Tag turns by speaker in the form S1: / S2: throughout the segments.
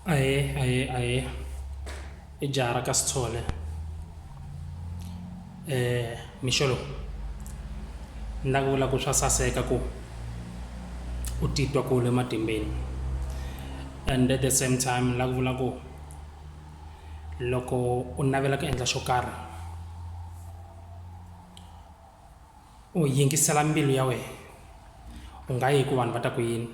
S1: ahe ahe ahe i jaha ra ka sithole um mixolo ni lava ku vula ku swa saseka ku u titwa ku le matimbeni and at the same time ni lava ku vula ku loko u navela ku endla xo karhi u yingisela mbilu ya wena u nga yi ku vanhu va ta ku yini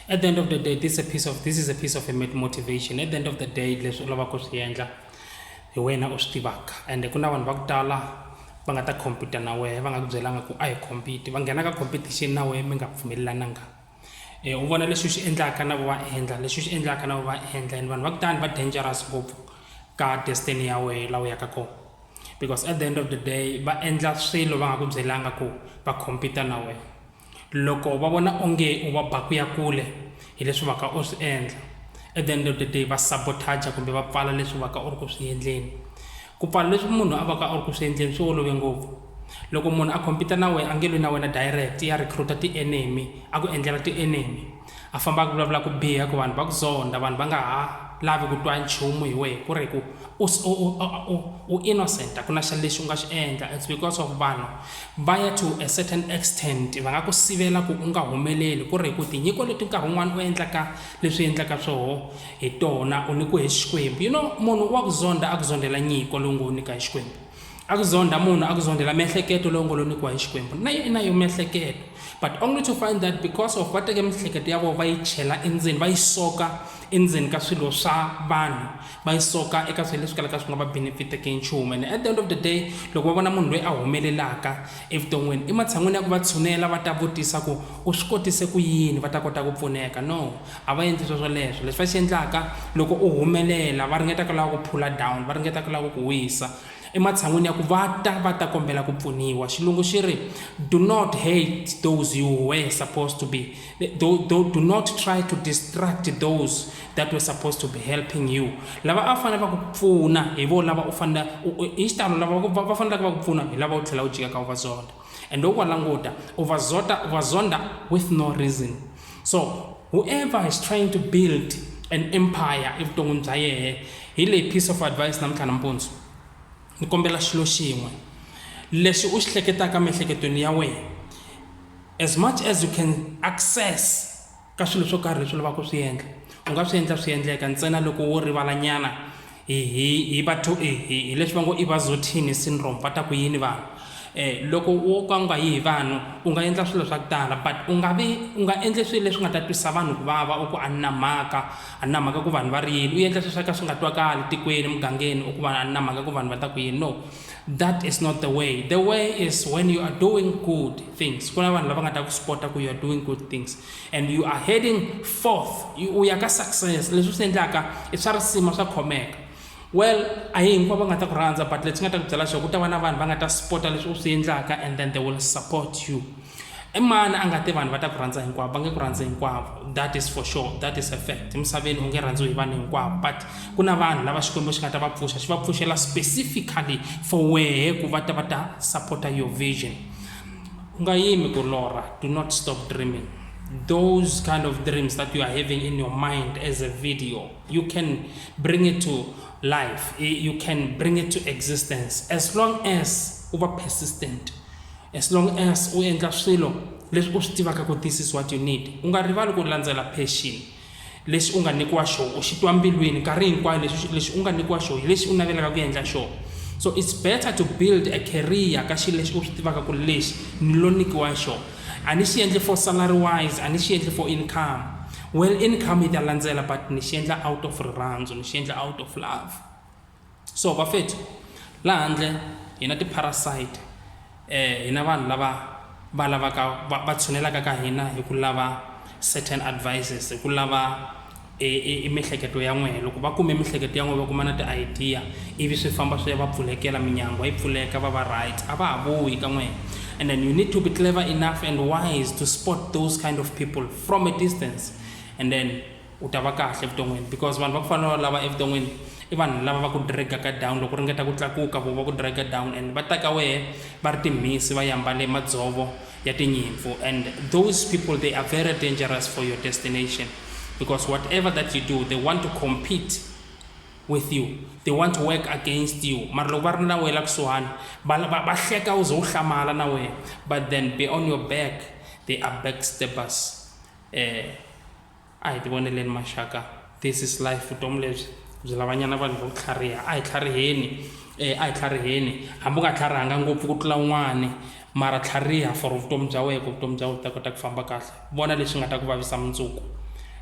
S1: at the end of the day this is a piece of this is a piece of a motivation at the end of the day leswi u lavaka ku swi endla hi wena u swi tivaka ende ku na vanhu va ku tala va nga ta compete na wehe va nga ku byelanga ku a hi compete va nghena ka competition na wehe mi nga pfumelelananga u vona leswi swi endlaka na va endla leswi swi endlaka na va endla and vanhu va kutani va dangerous ngopfu ka destiny ya wena laha u yaka kona because at the end of the day va endla swilo va nga ku byelanga ku va compete na wena loko va vona onge u va ba ku ya kule hi leswi va ka u swi endla at the end of the day va sabotager kumbe va pfala leswi va ka u ri ku swi endleni Ku pfala leswi munhu a vaka a ri ku swi endleni swi olove ngopfu. Loko munhu a compete na wena a nge lwi na wena direct, ya recruit-a ti-enemy, a ku endlela ti-enemy. A famba a ku vulavula ku biha ku vanhu va ku zonda, vanhu va nga ha lavi ku twa nchumu hi wena ku ri ku u u innocent a ku na xa lexi u nga xi endla. It's because of vanhu va ya to a certain extent va nga ku sivela ku u nga humeleli ku ri hi ku tinyiko leti nkarhi wun'wana u endlaka leswi endlaka swoho. Hi tona u nyikiwe hi Xikwembu. You know, munhu wa ku zonda a ku zondela nyiko lowu ngo nyika hi Xikwembu. A ku zonda munhu a ku zondela miehleketo lowu ngo lo nyikiwa hi Xikwembu. Na yo i na yo miehleketo. But only to find that because of va teke miehleketo ya vona va yi chela endzeni, va yi soka endzeni ka swilo swa vanhu, va yi soka eka swilo leswi kalaka swi nga va benefiteke nchumu. And at the end of the day, loko va vona munhu loyi a humelelaka evuton'wini, ematshan'wini ya ku va tshunela va ta vutisa ku u swi kotise ku yini, va ta kota ku pfuneka. No. A va endli swoswoleswo. Leswi va xi endlaka, loko u humelela, va ringeta ku lava ku phula down, va ringeta ku lava ku ku wisa ematshan'wini ya ku va ta va ta kombela ku pfuniwa. Xilungu xi ri, Do not hate those you were supposed to be, do, do, do not try to distract those that were supposed to be helping you. Lava a fanele va ku pfuna hi vo lava u fanele, hi xitalo lava va faneleke va ku pfuna hi lava u tlhela u jika ka u va zonda. and u va languta u va zota u va zonda with no reason so whoever is trying to build an empire evuton'wini bya yehe hi leyi piece of advice namuntlha nampundzu ni kombela xilo xin'we lexi u xi hleketaka miehleketweni ya wena as much as you can access ka swilo swo karhi leswi lavaka ku swi endla u nga swi endla swi endleka ntsena loko wo rivalanyana hi hi hi vatho hi hi leswi va ngo i vazotini syndrome va ta ku yini vanhu um loko wo ka u nga yi hi vanhu u nga endla swilo swa ku tala but u nga vi u nga endli swilo leswi nga ta twisa vanhu ku vava u ku a ni na mhaka a ni na mhaka ku vanhu va ri yini u endla swilo swa ka swi nga twakali tikweni emugangeni u ku va a ni na mhaka ku vanhu va ta ku yini no that is not the way the way is when you are doing good things kuna vanhu lava nga ta ku supporta ku you are doing good things and you are heading forth u ya ka success leswi swi endlaka i swa risima swa khomeka well a hi hinkwavo va nga ta ku rhandza but leti nga ta ku byela swa ku ta va na vanhu va nga ta supporta leswi u swi endlaka and then they will support you i mani a nga te vanhu va ta ku rhandza hinkwavo va nge ku rhandzi hinkwavo that is for sure that is a fact emisaveni u nge rhandziwi hi vanhu hinkwavo but ku na vanhu lava xikwembu xi nga ta va pfuxa xi va pfuxela specifically for wehe ku va ta va ta supporta your vision u nga yimi ku lorha do not stop dreaming those kind of dreams that you are having in your mind as a video you can bring it to life you can bring it to existence as long as u va persistent As long as u endla swilo leswi u swi tivaka ku this is what you need u nga rivali ku landzela passion lexi u nga nyikiwa xona u xi twa mbilwini nkarhi hinkwayo leswi lexi u nga nyikiwa xona hi lexi u navelaka ku endla xona so it's better to build a career ka xilo lexi u swi tivaka ku lexi ni lo nyikiwa xona a ni xi endli for salary wise a ni xi endli for income well income yi ta landzela but ni xi endla out of rirhandzu ni xi endla out of love so vafethu laha handle hi na ti-parasite hi na vanhu lava va lavaka va va tshunelaka ka hina hi ku lava certain advices hi ku lava i miehleketo ya n'wehe loko va kume miehleketo ya n'wehe va kuma na ti-idea ivi swi famba swi ya va pfulekela minyangwa yi pfuleka va va right a va ha vuyi ka n'wehe and then you need to be clever enough and wise to sport those kind of people from a distance and then u ta va kahle evuton'wini because vanhu va ku fana na valava evuton'wini i vanhu lava va ku dragaka down loko u ringeta ku tlakuka vo va ku draga down and va ta ka wehe va ri timhisi va yi ambale madzovo ya tinyimpfu and those people they are very dangerous for your destination because whatever that you do they want to compete with you they want to work against you mara loko va ri na wena la kusuhani va hleka u ze u hlamala na wena but then be on your back they are backstabbers um eh, A hi tivoneleni maxaka, this is life, vutomi lebyi byi lavanyana vanhu vo tlhariha. A hi tlhariheni, e, a hi tlhariheni. Hambi u nga tlharihanga ngopfu ku tlula un'wani, mara tlhariha for vutomi bya wehe ku vutomi bya wehe byi ta kota ku famba kahle. Vona leswi nga ta ku vavisa mundzuku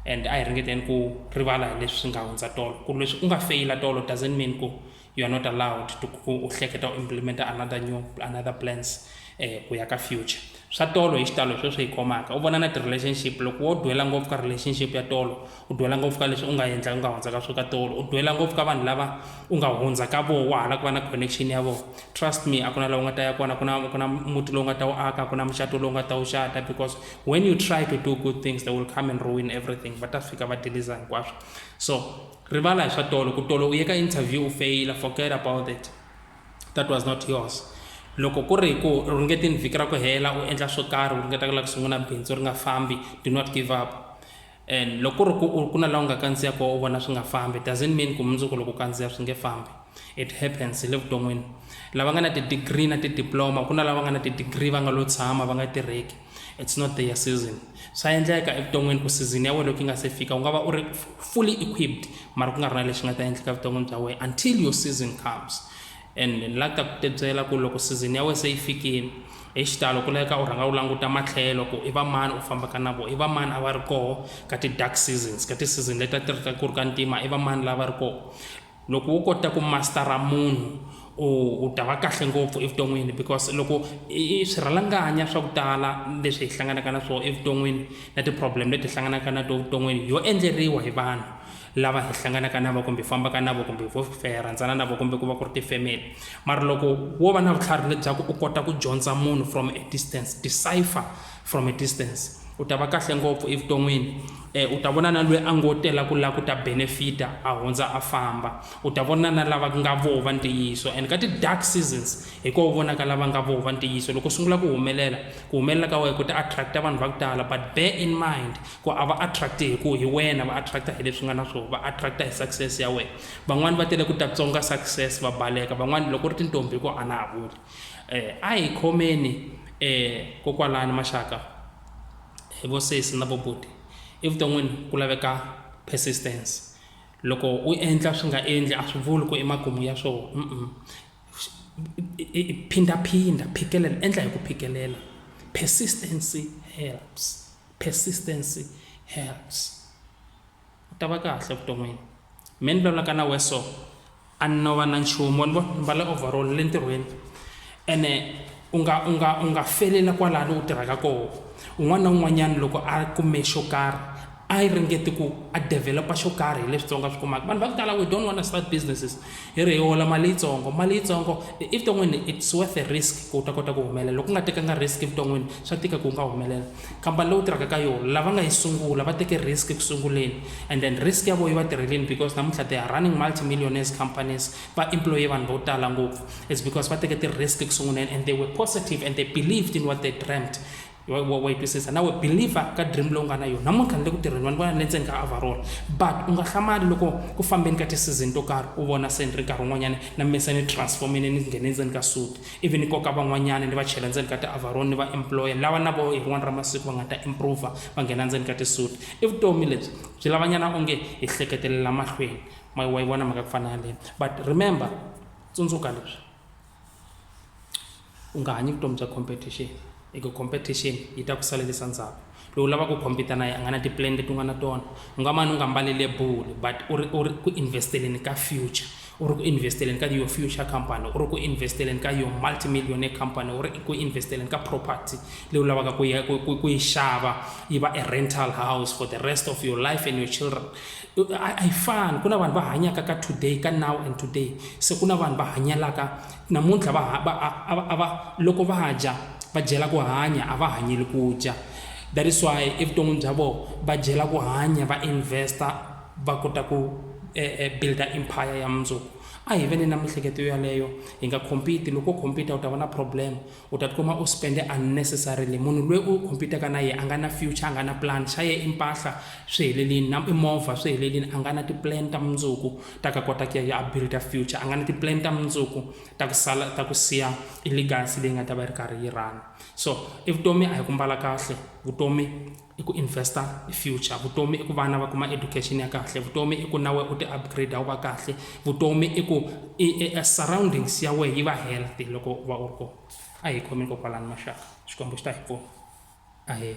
S1: and a hi ringeteni ku rivala hi leswi swi nga hundza tolo. Ku ri leswi u nga feyila tolo doesn't mean ku you are not allowed to u hleketa u implementa another new another plans eh ku ya ka future swa tolo hi xitalo hi sweswi hi khomaka u vona na ti-relationship loko wo dwela ngopfu ka relationship ya tolo u dwela ngopfu ka leswi u nga endla u nga hundza ka swo ka tolo u dwela ngopfu ka vanhu lava u nga hundza ka voho wa hala ku va na connection ya voho trust me a ku na laha u nga ta ya kona ku na ku na muti lowu nga ta wu aka ku na muxato lowu nga ta wu xata because when you try to do good things they will come and ruin everything va ta fika va deliza hinkwaswo so Rivala hi swa tolo ku tolo u ye ka interview u feyila forget about it that was not yours loko ku ri hi ku ringetini vhiki ra ku hela u endla swo karhi u ringeta ku lava ku sungula bindzu ri nga fambi do not give up and loko ku ri ku ku na laha u nga kandziya kona u vona swi nga fambi doesn't mean ku mundzuku loko kandziya swi nge fambi it happens hi le vuton'wini lava nga na ti-degree na ti-diploma ku na lava nga na ti-degree va nga lo tshama va nga tirheki it's not their season swa endleka evuton'wini ku season ya wena loko yi nga se fika u nga va u ri fully equipped mara ku nga ri na lexi nga ta endleka evuton'wini bya wena until your season comes and ni la ta ku tebyela ku loko season ya wena se yi fikile hi xitalo ku laveka u rhanga u languta matlhelo ku i vamani u fambaka na vona i vamani a va ri koho ka ti-dark seasons ka ti-season leti a ti ri ku ri ka ntima i vamani lava ri koho loko wo kota ku mastara munhu u u ta va kahle ngopfu evuton'wini because loko i swirhalanganya swa ku tala leswi hi hlanganaka na swona evuton'wini na ti-problem leti hi hlanganaka na to vuton'wini yo endleriwa hi vanhu lava hi hlanganaka na vo kumbe hi fambaka na vo kumbe vo hi rhandzana na vo kumbe ku va ku ri ti-family mara loko wo va na vutlhari lebyaku u kota ku dyondza munhu from a distance decipher from a distance u ta va kahle ngopfu evuton'wini um u ta vona na loyi a ngo tela ku lava ku ta benefita a hundza a famba u ta vona na lava nga voho va ntiyiso and ka ti-dark seasons hi ko u vonaka lava nga voho va ntiyiso loko u sungula ku humelela ku humelela ka wena ku ta attracta vanhu va ku tala but bear in mind ku a va attracti hi ku hi wena va attracta hi leswi nga na swona va attracta hi success ya wena van'wani va tele ku ta tsonga success va baleka van'wani loko ri tintombi hi ku a na ha vuli Eh, a hi khomeni eh, kokwalani maxaka hi vo sesi na bobuti evuton'wini ku laveka persistence loko u endla swi nga endli a swi vuli ku emakumu ya swona mm -mm. phindaphinda phikelela endla hi ku phikelela persistence helps persistence helps u ta va kahle evuton'wini me ni lwela ka na wehe so a ni no va na nchumu wa ni vona ni mbale overall ni le ntirhweni ene u nga u nga u nga feleli kwalano u tirhaka koho un'wana na un'wanyana loko a kume xo karhi a yi ringete ku a develop-a xo karhi hi leswitsongo a swi kumaka vanhu va ku tala we don't wanna start businesses hi ri hi hola mali yitsongo mali yitsongo evuton'wini it's worth a risk ku u ta kota ku humelela loko u nga tekanga risk evuton'wini swa tika ku u nga humelela. khampani leyi u tirhaka ka yona lava nga yi sungula va teke risk eku sunguleni and then risk ya vona yi va tirheleni because namuntlha they are running multimillionaires companies va employe vanhu vo tala ngopfu it's because va teke ti-risk eku sunguleni and they were positive and they believed in what they dreamt wa yi twisisa nawe believer ka dream lowu nga na yona namuntlha ni le ku tirheni vanhu vona ni le ndzeni ka avarona but u nga hlamali loko ku fambeni ka ti-season to karhi u vona se ni ri nkarhi wun'wanyana na mise ni transformile ni nghene ndzeni ka suti ivi ni koka van'wanyana ni va chela ndzeni ka ti-avaroni ni va employer lawa na vo hi rin'wana ra masiku va nga ta improver va nghena ndzeni ka ti-suit i vutomi lebyi byi lavanyana onge hi hleketelela mahlweni ma wa yi vona mhaka ku fana yaleyo but remember tsundzuka leswi u nga hanyi vutomi bya competition hi ku competition yi ta ku salelisa ndzhaku loyi u lava ku compete na ye a nga na ti-plan leti u nga na tona u nga mane u nga mbali lebulu but u ri u ri ku invest-eleni ka future u ri ku invest-eleni ka your future company u ri ku invest-eleni ka your multi millionaire company u ri ku invest-eleni ka property leyi u lavaka ku ya ku ku yi xava yi va a rental house for the rest of your life and your children a yi fani ku na vanhu va hanyaka ka today ka now and today se ku na vanhu va hanyelaka Namuntlha va ha, va, a, a, a va, loko va dya, va dyela ku hanya, a va hanyeli ku dya. That is why evuton'wini bya vona va dyela ku hanya, va investa, va kota ku eh, eh, builda empire ya mundzuku. A hi ve ni na mihleketo yaleyo, hi nga compete. Loko u compete u ta va na problem. U ta tikuma u spende unnecessarily. Munhu lweyi u compete-ka na yehe a nga na future, a nga na plan. Xa yehe i mpahla swi helelini, na i movha swi helelini. A nga na ti-plan ta mundzuku ta ka kota ku ya ya a build-a future. A nga na ti-plan ta mundzuku ta ku sala ta ku siya i legacy leyi nga ta va yi ri karhi yi run-a. So i vutomi a hi ku mbala kahle, vutomi. i ku investa hi future vutomi i ku vana va kuma education ya kahle vutomi i ku nawe u ti upgrade wu va kahle vutomi i ku surroundings ya wehe yi va healthy loko u va u ri kona a hi khomeni kokwalani maxaka xikwembu xi ta hi pfuna ahee